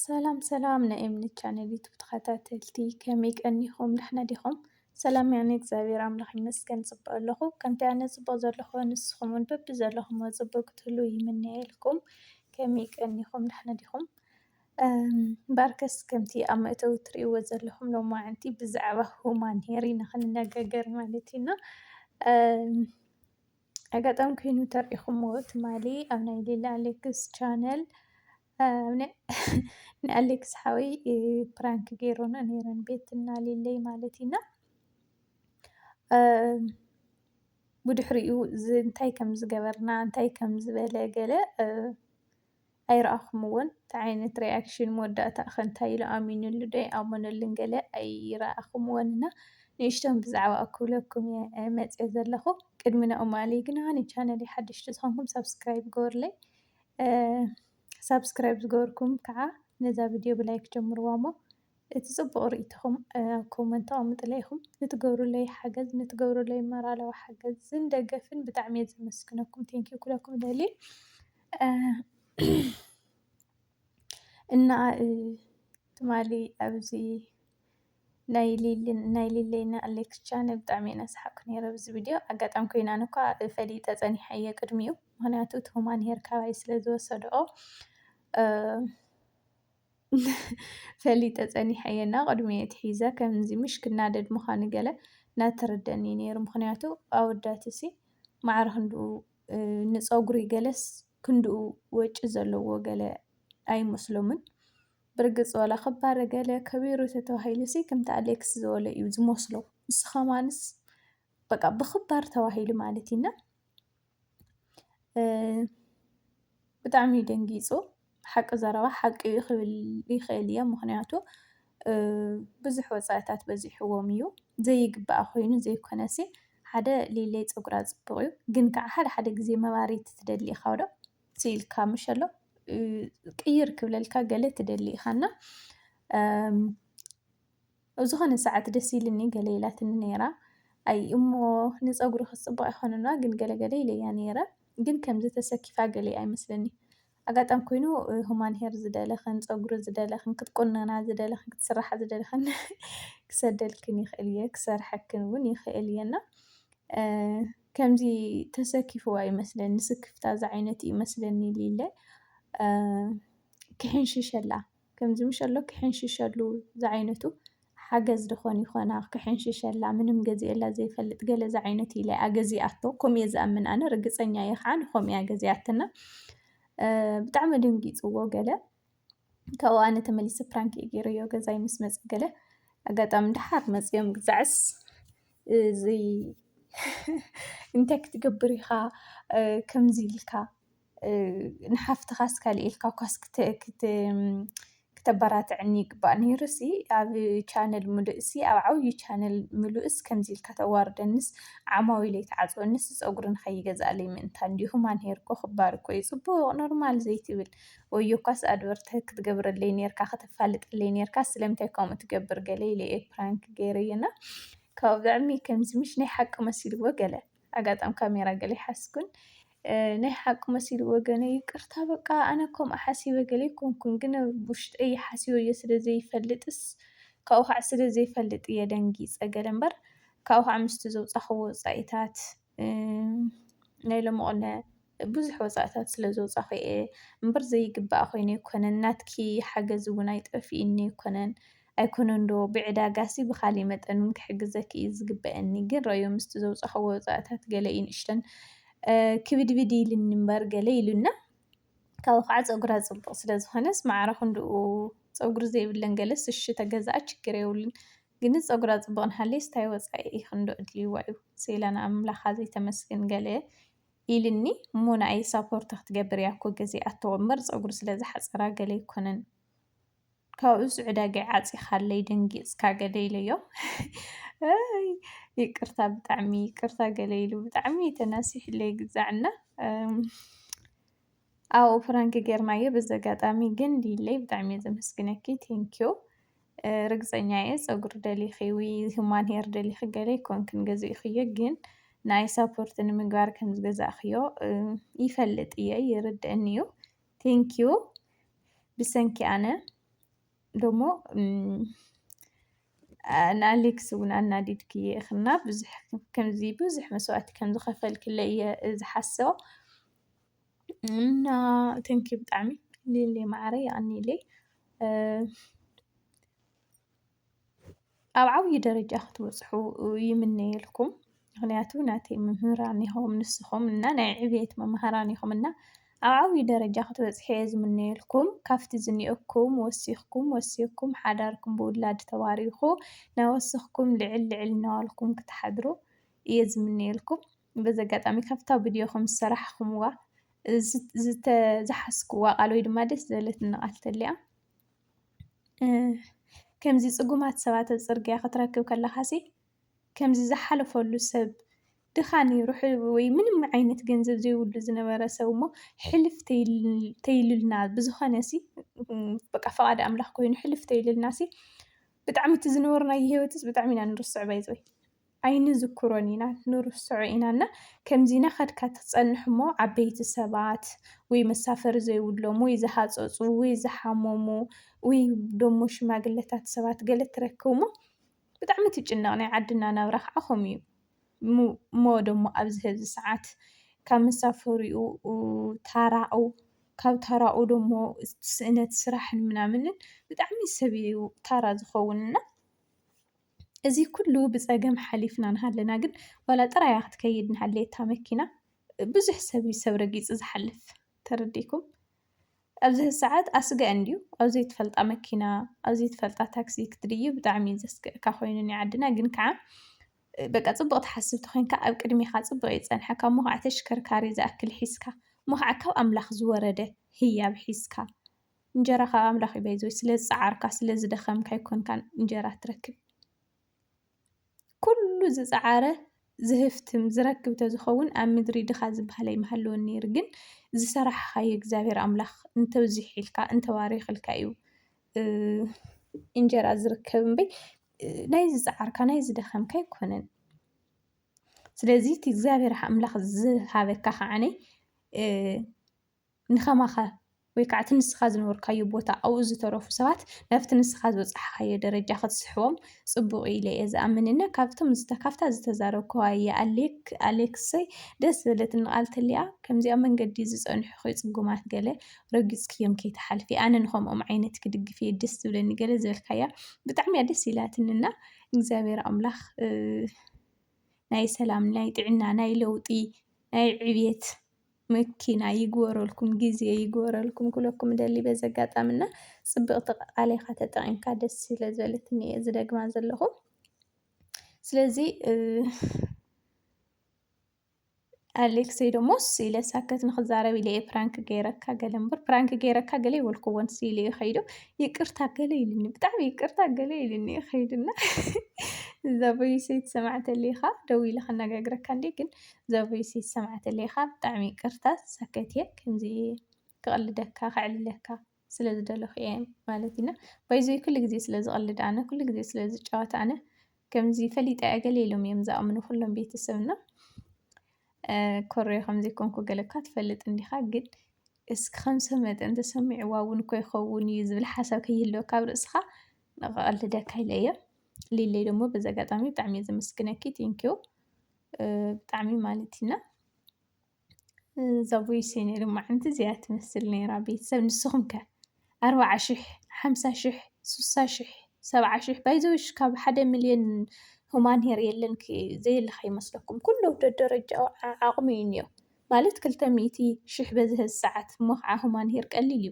ሰላም ሰላም ናይ ኤምኒ ቻነል ዩቱብ ተኸታተልቲ ከመይ ቀኒኹም? ዳሕና ዲኹም? ሰላም ያኒ እግዚኣብሔር ኣምላኽ ይመስገን ጽቡቅ ኣለኹ። ከምቲ ኣነ ጽቡቅ ዘለኹ ንስኹም እውን በቢ ዘለኹሞ ጽቡቅ ክትህልዉ ይምነየልኩም። ከመይ ቀኒኹም? ዳሕና ዲኹም? እምበኣርከስ ከምቲ ኣብ መእተዊ እትርእይዎ ዘለኹም ሎማዓንቲ ብዛዕባ ሁማን ሄር ኢና ክንነጋገር ማለት እዩ እና ኣጋጣሚ ኮይኑ ተሪኢኹሞ ትማሊ ኣብ ናይ ሌላ ኣሌክስ ቻነል ንኣሌክስ ሓወይ ፕራንክ ገይሮን ነይረን ቤትና ሌለይ ማለት እዩና ብድሕሪኡ እንታይ ከም ዝገበርና እንታይ ከም ዝበለ ገለ ኣይረኣኹምዎን ታይ ዓይነት ሪኣክሽን መወዳእታ'ከ እንታይ ኢሉ ኣሚንሉ ዶ ኣይኣመነሉን ገለ ኣይረኣኹምዎን እና ንእሽቶ ብዛዕባኡ ክብለኩም እየ መፅየ ዘለኹ ቅድሚ ናብኡ ምባለይ ግና ንቻነለይ ሓደሽቲ ዝኾንኩም ሳብስክራይብ ግበሩለይ ሳብስክራይብ ዝገበርኩም ከዓ ነዛ ቪድዮ ብላይክ ጀምርዋ እሞ እቲ ጽቡቕ ርእይቶኹም ኣብ ኮመንት ኣቐምጡለይ ኢኹም። ንትገብሩለይ ሓገዝ ንትገብሩለይ መራላዊ ሓገዝን ደገፍን ብጣዕሚ እየ ዘመስግነኩም ቴንክ ዩ ኩለኩም እደሊ እና ትማሊ ኣብዚ ናይ ሊልን ናይ ሊለይና ኣሌክስ ቻነል ብጣዕሚ ኢና ሰሓቅኩ ነይረ ብዚ ቪድዮ ኣጋጣሚ ኮይኑ ኣነ እኳ ፈሊጠ ፀኒሐ እየ ቅድሚኡ ምክንያቱ እቲ ሁማን ሄር ካባይ ስለ ዝወሰድኦ ፈሊጠ ጸኒሐ እየ እና ቅድሚ ኣትሒዘ ከምዚ ምሽ ክናደድ ምዃኑ ገለ ናተረደኣኒ ነይሩ ምኽንያቱ ኣወዳትሲ ማዕረ ክንድኡ ንጸጉሪ ገለስ ክንድኡ ወጪ ዘለዎ ገለ ኣይመስሎምን ብርግጽ ዋላ ክባረ ገለ ከቢሩ ተተባሂሉሲ ከምቲ ኣሌክስ ዝበሎ እዩ ዝመስሎ ንሱ ከማንስ በቃ ብኽባር ተባሂሉ ማለት እዩና ብጣዕሚ እዩ ደንጊፁ ሓቂ ዘረባ ሓቂ እዩ ክብል ይኽእል እየ ምኽንያቱ ብዙሕ ወፃኢታት በዚሕዎም እዩ ዘይግባኣ ኮይኑ ዘይኮነሲ ሓደ ሌለይ ፀጉራ ፅቡቅ እዩ ግን ከዓ ሓደ ሓደ ግዜ መባርይቲ ትደሊ ኢካ ዶ ስኢልካ ምሸሎ ቅይር ክብለልካ ገለ ትደሊ ኢካ እና። ኣብ ዝኾነ ሰዓት ደስ ኢልኒ ገለ ኢላትኒ ነይራ። ኣይ እሞ ንጸጉርኺ ጽቡቕ ኣይኮነንዋ ግን ገለ ገለ ኢለያ ነይረ። ግን ከምዚ ተሰኪፋ ገለ ኣይመስለንዩ። ኣጋጣሚ ኮይኑ ሁማን ሄር ዝደለኽን ጸጉሪ ዝደለኽን ክትቁነና ዝደለኽን ክትስርሓ ዝደለኽን ክሰደልክን ይኽእል እየ ክሰርሐክን እውን ይኽእል እየ እና ከምዚ ተሰኪፍዋ ይመስለኒ ስክፍታ ዝዓይነቱ ይመስለኒ ሊለ ክሕንሽሸላ ከምዚ ምሸሎ ክሕንሽሸሉ ዝዓይነቱ ሓገዝ ደኾን ይኾና ክሕንሽሸላ ምንም ገዚኤላ ዘይፈልጥ ገለ ዝዓይነቱ ኢለ ኣገዚኣቶ ከምኡየ ዝኣምን ኣነ ርግፀኛ እየ ከዓ ንከምኡ እያ ገዚኣትና ብጣዕሚ ድንጊፅዎ ገለ ካብኡ ኣነ ተመሊሰ ፕራንክ እዩ ገይረዮ ገዛይ ምስ መፅ ገለ ኣጋጣሚ ድሓር መፅኦም ግዛዕስ እዚ እንታይ ክትገብር ኢኻ ከምዚ ኢልካ ንሓፍትኻስ ካልእ ኢልካ እኳስ ክተበራትዐኒ ይግባእ ነይሩሲ ኣብ ቻነል ምሉእሲ ኣብ ዓብዪ ቻነል ምሉእስ ከምዚ ኢልካ ተዋርደኒስ ዓማዊለይ ትዓፅወኒስ ፀጉሪ ንከይገዝኣለይ ምእንታን ድዩ ሁማን ሄር እኮ ክባር እኮ እዩ ፅቡቕ ኖርማል ዘይትብል ወዮ እኳስ ኣድቨርታይዝ ክትገብረለይ ነይርካ ከተፋልጠለይ ነይርካ ስለምንታይ ከምኡ ትገብር ገለ ኢለ እየ ፕራንክ ገይረ እየ እና ካብኡ ብጣዕሚ ከምዚ ምሽ ናይ ሓቂ መሲልዎ ገለ ኣጋጣም ካሜራ ገለ ይሓስኩን ናይ ሓቂ መሲልዎ ገለ ይቅርታ በቃ ኣነ ከምኡ ሓሲበ ገለ ኣይኮንኩን ግን ኣብ ውሽጠይ ሓሲበዮ ስለ ዘይፈልጥስ ካብኡ ከዓ ስለ ዘይፈልጥ እየ ደንጊፀ ገለ እምበር ካብኡ ከዓ ምስቲ ዘውፃኽዎ ወፃኢታት ናይ ሎሚ ቕነ ብዙሕ ወጻእታት ስለ ዘውጻኹ እየ እምበር ዘይግባኣ ኮይኑ ኣይኮነን ናትኪ ሓገዝ ውን ኣይጠፊእኒ ኣይኮነን ኣይኮነን ዶ ብዕዳጋሲ ብኻሊእ መጠን ውን ክሕግዘኪ እዩ ዝግበኣኒ ግን ረኣዮ ምስቲ ዘውጻኽዎ ወጻእታት ገለ እዩ ንእሽተን ክብድብድ ኢልኒ እምበር ገለ ኢሉና ካብኡ ከዓ ጸጉራ ጽቡቕ ስለ ዝኾነስ ማዕረ ክንድኡ ጸጉሪ ዘይብለን ገለስ እሺ ተገዛኣ ችግር የብሉን ግንስ ጸጉራ ጽቡቕ ንሃለይስ ታይ ወጻኢ ክንድኡ ኣድልይዋ እዩ ሴላ ንኣምላኻ ዘይተመስግን ገለ ኢልኒ እሞ ንኣይ ሳፖርት ክትገብር እያ እኮ ግዜ ኣቶ እምበር ጸጉሪ ስለ ዝሓጸራ ገለ ኣይኮነን ካብኡስ ዕዳገይ ዓጺኻለይ ደንጊጽካ ገለ ኢለዮ ኣይ ይቅርታ ብጣዕሚ ይቅርታ ገለ ኢሉ ብጣዕሚ ተናሲሕለይ ግዛዕና ኣብኡ ፍራንክ ጌርናዮ በዚ ኣጋጣሚ ግን ሊለይ ብጣዕሚ እየ ዘመስግነኪ ቴንኪዩ ርግጸኛ እየ ጸጉሪ ደሊኺ ውይ ሁማን ሄር ደሊኺ ገለ ኣይኮንክን ገዚእኽዮ ግን ንኣይ ሳፖርት ንምግባር ከም ዝገዛእኽዮ ይፈልጥ እየ ይርድእኒ እዩ ቴንኪዩ ብሰንኪ ኣነ ደሞ ንኣሌክስ እውን ኣናዲድክየ ኢኽና ብዙሕ ከምዚ ብዙሕ መስዋእቲ ከም ዝኸፈልክለይ እየ ዝሓስቦ እና ቴንኪ ብጣዕሚ ሊሊ ማዕረይ ኣኒለይ ኣብ ዓብዪ ደረጃ ክትበፅሑ ይምነየልኩም ምክንያቱ ናተይ መምህራን ኢኹም ንስኹም እና ናይ ዕብየት መማህራን ኢኹም እና ኣብ ዓብዪ ደረጃ ክትበፅሑ እየ ዝምነየልኩም ካብቲ ዝኒኦኩም ወሲኽኩም ወሲኽኩም ሓዳርኩም ብውላድ ተባሪኹ ናወስኽኩም ልዕል ልዕል እናበልኩም ክትሓድሩ እየ ዝምነየልኩም። በዚ ኣጋጣሚ ካብታ ብድዮኹም ዝሰራሕኹምዋ ዝተዝሓስኩዋ ቃል ወይ ድማ ደስ ዝበለትኒ ቃል ተልያ ከምዚ ጽጉማት ሰባት ኣብ ጽርግያ ክትረክብ ከለኻሲ ከምዚ ዝሓለፈሉ ሰብ ድኻ ነይሩ ወይ ምንም ዓይነት ገንዘብ ዘይብሉ ዝነበረ ሰብ እሞ ሕልፍ ተይልልና ብዝኾነሲ በቃ ፈቓድ ኣምላኽ ኮይኑ ሕልፍ ተይልልናሲ ብጣዕሚ እቲ ዝነበርናዮ ህይወትስ ብጣዕሚ ኢና ንርስዖ ባይዘወይ። ኣይንዝክሮን ኢና ንርስዖ ኢና እና ከምዚ ናኸድካ ትጸንሕ እሞ ዓበይቲ ሰባት ውይ መሳፈሪ ዘይብሎም ውይ ዝሃጸጹ ውይ ዝሓመሙ ውይ ደሞ ሽማግለታት ሰባት ገለ ትረክብ እሞ ብጣዕሚ ትጭነቕ ናይ ዓድና ናብራ ከዓ ከምኡ እዩ እሞ እሞ ደሞ ኣብዚ ሀዚ ሰዓት ካብ መሳፈሪኡ ታራኡ ካብ ታራኡ ደሞ ስእነት ስራሕን ምናምንን ብጣዕሚ ሰብ እዩ ታራ ዝኸውን እና እዚ ኩሉ ብፀገም ሓሊፍና ንሃለና ግን ዋላ ጥራያ ክትከይድ ንሃለየ እታ መኪና ብዙሕ ሰብ እዩ ሰብ ረጊፁ ዝሓልፍ ተረዲኩም ኣብዚ ሰዓት ኣስጋእ እንድዩ ኣብ ዘይትፈልጣ መኪና ኣብ ዘይትፈልጣ ታክሲ ክትድይ ብጣዕሚ እዩ ዘስግእካ ኮይኑ ናይ ዓድና ግን ከዓ በቃ ፅቡቅ ትሓስብ ተኮይንካ ኣብ ቅድሚካ ፅቡቅ እዩ ዝፀንሐካ እሞ ከዓ ተሽከርካሪ ዝኣክል ሒዝካ እሞ ከዓ ካብ ኣምላክ ዝወረደ ህያብ ሒዝካ እንጀራ ካብ ኣምላኽ እዩ ባይዘወይ ስለዝጸዓርካ ስለዝደኸምካ ኣይኮንካን እንጀራ ትረክብ ኩሉ ዝጸዓረ ዝህፍትም ዝረክብ ተዝኸውን ኣብ ምድሪ ድኻ ዝበሃል ኣይምሃለወን ነይሩ ግን ዝሰራሕኻዮ እግዚኣብሔር ኣምላኽ እንተብዚሒልካ እንተባሪኽልካ እዩ እንጀራ ዝርከብ እምበይ ናይ ዝጸዓርካ ናይ ዝደኸምካ ኣይኮነን ስለዚ እቲ እግዚኣብሔር ኣምላኽ ዝሃበካ ከዓነይ ንከማኻ ወይ ከዓ እቲ ንስኻ ዝነበርካዮ ቦታ ኣብኡ ዝተረፉ ሰባት ናብቲ ንስኻ ዝበፃሕኻዮ ደረጃ ክትስሕቦም ፅቡቕ እዩ ኢለ እየ ዝኣምን እና ካብቶም ዝተ ካብታ ዝተዛረብክዋ እየ ኣሌክ ኣሌክሰይ ደስ ዝበለትኒ ቃል ተሊኣ ከምዚ ኣብ መንገዲ ዝፀንሑኺ ፅጉማት ገለ ረጊፅክዮም ከይትሓልፊ ኣነ ንከምኦም ዓይነት ክድግፍ እየ ደስ ዝብለኒ ገለ ዝበልካያ ብጣዕሚ እያ ደስ ኢላትኒ እና እግዚኣብሔር ኣምላኽ ናይ ሰላም ናይ ጥዕና ናይ ለውጢ ናይ ዕብየት መኪና ይግበረልኩም ግዜ ይግበረልኩም ክብለኩም እደሊ በዚ ኣጋጣሚ እና ጽብቕቲ ቃል ኢኻ ተጠቒምካ ደስ ስለ ዝበለትኒ እየ ዝደግማ ዘለኹ ስለዚ ኣሌክሰይ ደሞ ስኢለ ሳከት ንክዛረብ ኢለ እየ ፕራንክ ገይረካ ገለ እምበር ፕራንክ ገይረካ ገለ ይበልክዎን ስኢለ እዩ ከይዱ ይቅርታ ገለ ኢልኒ ብጣዕሚ ይቅርታ ገለ ኢልኒ እዩ ከይዱና እዛ ቦይሰይ ትሰማዕ ተሊኻ ደው ኢለ ከነጋግረካ እንዲ ግን ዘቡይ ሲ ዝሰማዕትለይ ኢካ ብጣዕሚ ይቅርታ ተሳከት ኢየ ከምዚ ክቅልደካ ከዕልለካ ስለ ዝደለኩ ኢየ ማለት እና ባይዘወይ ኩሉ ግዜ ስለ ዝቅልድ ኣነ ኩሉ ግዜ ስለ ዝጫወት ኣነ ከምዚ ፈሊጠ ኢየ ገለ ኢሎም ኢዮም ዝኣምኑ ኩሎም ቤተሰብና ኮረዮ ከም ዘይኮንኩ ገለ እኳ ትፈልጥ እንዲኻ ግን እስኪ ከም ሰብ መጠን ተሰሚዕዋ እውን እኮ ይኸውን እዩ ዝብል ሓሳብ ከይህልወካ ኣብ ርእስኻ ንቐቐልደካ ኢለ እየ ሊለይ ደግሞ በዚ ኣጋጣሚ ብጣዕሚ እየ ዘመስግነኪ ቴንኪዩ ብጣዕሚ ማለት ኢና ዛቡይ ሴኔ ልማዓንቲ እዚኣ ትመስል ነይራ ቤተሰብ ንስኹም ከ ኣርባዓ ሽሕ ሓምሳ ሽሕ ስሳ ሽሕ ሰብዓ ሽሕ ባይዘወሽ ካብ ሓደ ሚልዮን ሁማን ሄር የለን ዘየለካ ይመስለኩም ኩሉ ደደረጃኦ ዓቕሚ እዩ እኒኦ ማለት ክልተ ሚእቲ ሽሕ በዝሀ ሰዓት እሞ ኸዓ ሁማን ሄር ቀሊል እዩ።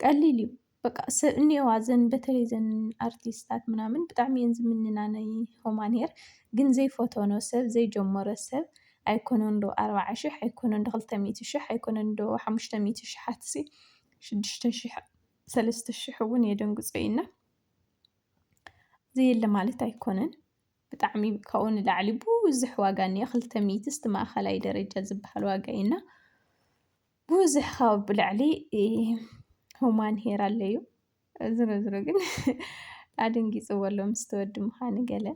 ቀሊል እዩ በቃ ሰብ እኔዋ ዘን በተለይ ዘን ኣርቲስታት ምናምን ብጣዕሚ እየን ዝምንና ናይ ሁማን ሄር ግን ዘይፈተኖ ሰብ ዘይጀመሮ ሰብ ኣይኮነን ዶ ኣርብዓ ሽሕ ኣይኮነን ዶ ክልተ ሚእቲ ሽሕ ኣይኮነን ዶ ሓሙሽተ ሚእቲ ሽሓት ሲ ሽዱሽተ ሽሕ ሰለስተ ሽሕ እውን የደንግፆ እዩ እና ዘየለ ማለት ኣይኮነን ብጣዕሚ ካብኡ ንላዕሊ ብዙሕ ዋጋ እኒኦ ክልተ ሚእቲ እስቲ ማእኸላይ ደረጃ ዝበሃል ዋጋ እዩ እና ብዙሕ ካብ ብላዕሊ ሁማን ሄር ኣለዩ ዝረዝሮ ግን ኣደንጊፅዎ ኣሎ ምስ ተወዲ ምዃኑ ገለ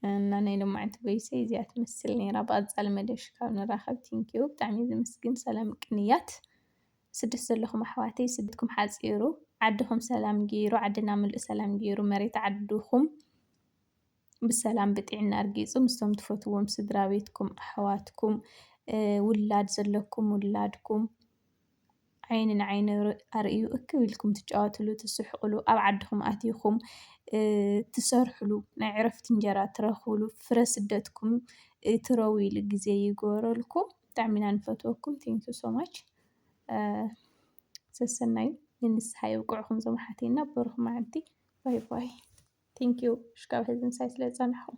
እና ናይ ሎማዕንቲ በይሰ እዚኣ ትመስል ነይራ ብኣፃሊ መደብሽ ካብ ንራኸብ ቲንኪዩ ብጣዕሚ ዝምስግን ሰላም ቅንያት ስደት ዘለኹም ኣሕዋተይ ስደትኩም ሓፂሩ ዓድኹም ሰላም ገይሩ ዓድና ምሉእ ሰላም ገይሩ መሬት ዓድኹም ብሰላም ብጥዕና ርጊጹ ምስቶም ትፈትዎም ስድራቤትኩም ኣሕዋትኩም ውላድ ዘለኩም ውላድኩም ዓይኒ ንዓይኒ ኣርእዩ እክብ ኢልኩም ትጫወትሉ ትስሕቅሉ ኣብ ዓድኩም ኣቲኩም ትሰርሕሉ ናይ ዕረፍቲ እንጀራ ትረክብሉ ፍረ ስደትኩም ትረውይሉ ግዜ ይግበረልኩም ብጣዕሚ ኢና ንፈትወኩም thank you so much ሰሰናዩ ንንስሓ የብቅዕኩም ዞም ኣሓቴና በሩክ ማዓልቲ ባይ ባይ። Thank you ሽጋብ ህዝቢ ምሳይ ስለ ዝጸናሕኹም።